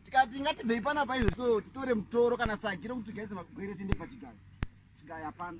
tikati ngatibvei pana paizvo so titore mutoro kana sagi rokuti tigaise magwere tiende pachigayo chigayo hapana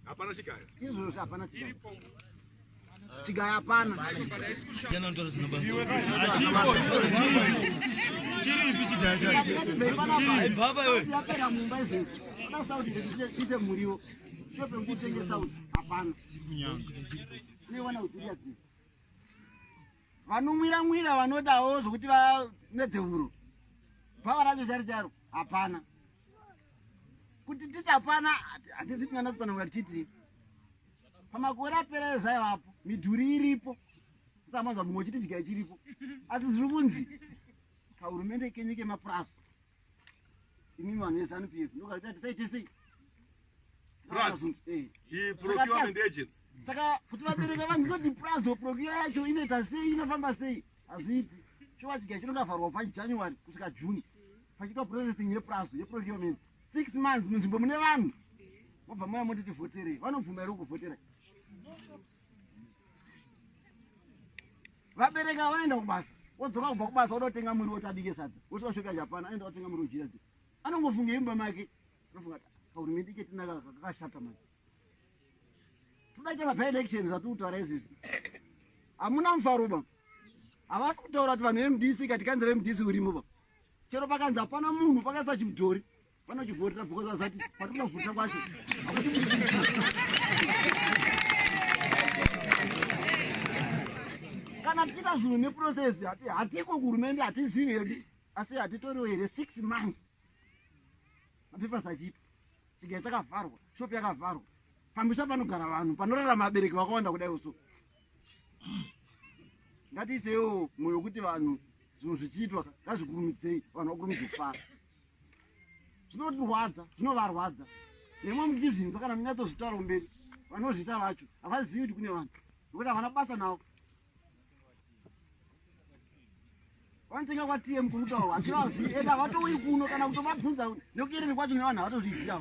hapana chigayo izvozvo hapana chigayo chigayo hapana ite muriwo shopekutengesa hapana unewana uziria dzii Vanonwira nwira vanodawo zvokuti vamedze huro. Bhava racho chari charo hapana. Kuti tichapana hatizi kunyana tsanangura tichiti pamakore apera ezvaivapo midhuri iripo kusamanzwa mumwe chiti chigaya chiripo asi zviri kunzi kahurumende kenyu kemapurasi Imi vanhu vezanu PF ndokarita tisaite sei? Plus, eh. he procurement agents. Saka kuti vabereka vanhu zoti plus or procure yacho inoita sei inofamba sei? Hazviiti. Chova chigaya chinongavharwa pa January kusvika June. Pachiitwa processing ye plus ye procurement. 6 months munzvimbo mune vanhu. Mobva moya moti tivhotere. Vanobvuma here kuvhotera? vabereki ava vanoenda kubasa wodzoka kubva kubasa wodotenga muriwo tabike sadza wosvika svika japan aenda otenga muriwo jira dzi anongofunga imba make anofunga kahurumende ke tinaka kakashata mani todaita vapa election zvatiri kutaura izvizvi hamuna mufaro ba havasi kutaura kuti vanhu vemdc kati kanzi remdc urimo ba chero pakanzi hapana munhu pakaisa chimudhori vanochivhotera because azati patinozvota kwacho kana tiita zvinhu neprocess hati hatiko kuhurumende hatizivi hedu asi hatitoriwo here six months mapepers achiitwa chigai chakavharwa shop yakavharwa pamisha panogara vanhu panorara mabereki vakawanda kudai uso ngatiitewo mwoyo wekuti vanhu zvinhu zvichiitwa ngazvikurumidzei vanhu vakurumidze kufara zvinotirwadza zvinovarwadza nemwe muchizvinzwa kana munyatsozvitaura kumberi vanozvita vacho havazivi kuti kune vanhu nokuti havana basa navo vanotenga kwatm kuri kutaurwa hativazivi ende havatouyi kuno kana kutovabvunza nekuyerere kwacho nevanhu havatozviziva